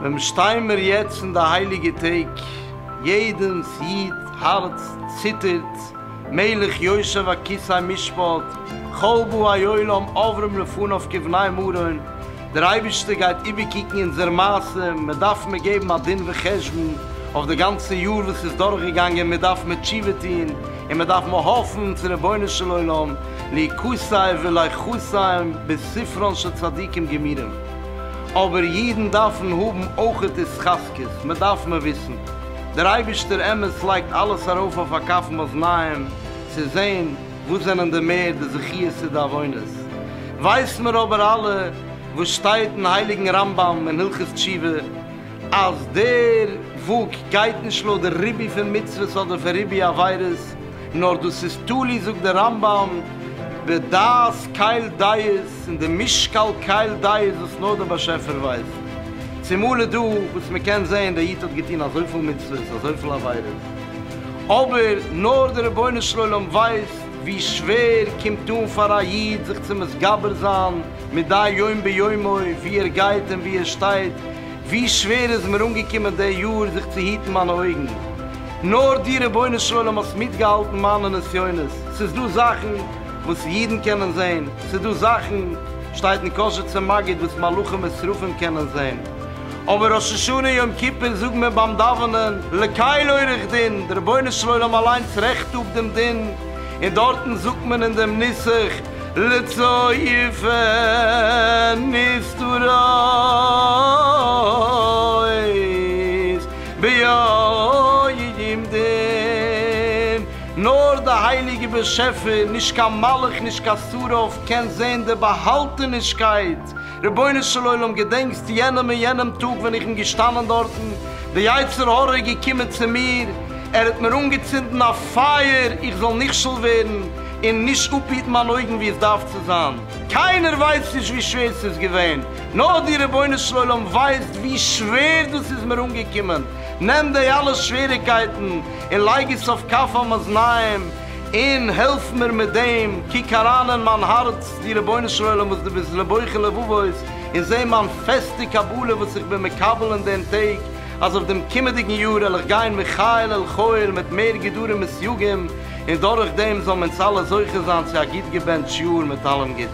ווען שטיי מיר יעצט אין די הייליגע טעג, יעדעמס איד הארץ ציטערט, מלך יושב על כסא משפט, כל באי עולם עוברים לפניו כבני מרון, דער אייבערשטער גייט איבערקוקן אונזער מעשה, מען דארף מיר געבן א דין וחשבון אויף די גאנצע יאר וואס איז דורכגעגאנגען, מיר דארף מיר תשובה טון, און מיר דארף מיר האפן צו רבונו של עולם ליקוטיו ולחוסיו בספרן של צדיקים גמורים, אבער אידן דארפן האבן אויך התחזקות, מען דארף מיר וויסן, דער אייבערשטער אמת לייגט אלעס ארויף אויף א קאפ מאזניים צו זען, וואס זענען די מער די זכיות צו די עוונות? ווייסן מיר אבער אלע וואס שטייט אין הייליגן רמב ם אין הלכות תשובה, אז דער וואג גייט נישט לויט די ריבוי פון מצוות אדער פון ריבוי עבירות, נאר דאס איז תלוי זאגט דער רמב ם בדעת קהל דעת און די משקל קהל דעת וואס נאר דער באשעפער ווייסט. צומאל איז דא וואס מען קען זען דער איד האט געטון אזויפיל מצוות אזויפיל עבירות, אבער נאר דער רבונו של עולם ווייסט ווי שווער קומט אן פאר א איד זיך צו מתגבר זיין מדי יום ביומו ווי ער גייט און ווי ער שטייט, ווי שווער איז מיר אנגעקומען די יאר זיך צו היטן מיינע אויגן, נאר דו רבונו של עולם האסט מיטגעהאלטן מיינע נסיונות, ס'איז דא זאכן וואס אידן קענען זען, ס'איז דא זאכן שטייט אין קשר צום מגיד וואס מלאכים ושרפים קענען זען, אבער ראש השנה יום כיפור זאגט מען ביים דאווענען לקהל עורך דין, די רבונו של עולם אליינס רעכט אפ דעם דין, און דארטן זאגט מען אין דעם נוסח לצא יפה נסתרות ביום דין, נאר די הייליגע באשעפער, נישט קיין מלאך נישט קיין שרף, קען זען די באהאלטענישקייט, רבונו של עולם געדענקסט יענעם און יענעם טאג ווען איך בין געשטאנען דארטן, די יצר הרע איז געקומען צו מיר, ער האט מיר אנגעצינדן א פייער איך זאל נכשל ווערן און נישט אפהיטן מיין אויגן ווי עס דארף צו זיין, קיינער ווייסט נישט ווי שווער ס'איז געווען, נאר דו רבונו של עולם ווייסט ווי שווער דאס איז מיר אנגעקומען, נעם די אלע שוועריגקייטן און לייג עס אויף כף המאזניים, און העלף מיר מיט דעם, קוק אריין אין מיין הארץ, דו רבונו של עולם וואס דו ביסט לבוחר לבבות, און זע מיין פעסטע קבלה וואס איך בין מקבל אין דעם טאג, אז אויף דעם קומענדיגן יאר על איך גיין מחיל אל חיל מיט מער גדרים וסייגים, און דורך דעם זאלן אונז אלע זוכה זיין צו א גוט געבענטש יאר מיט אלעם גוטן.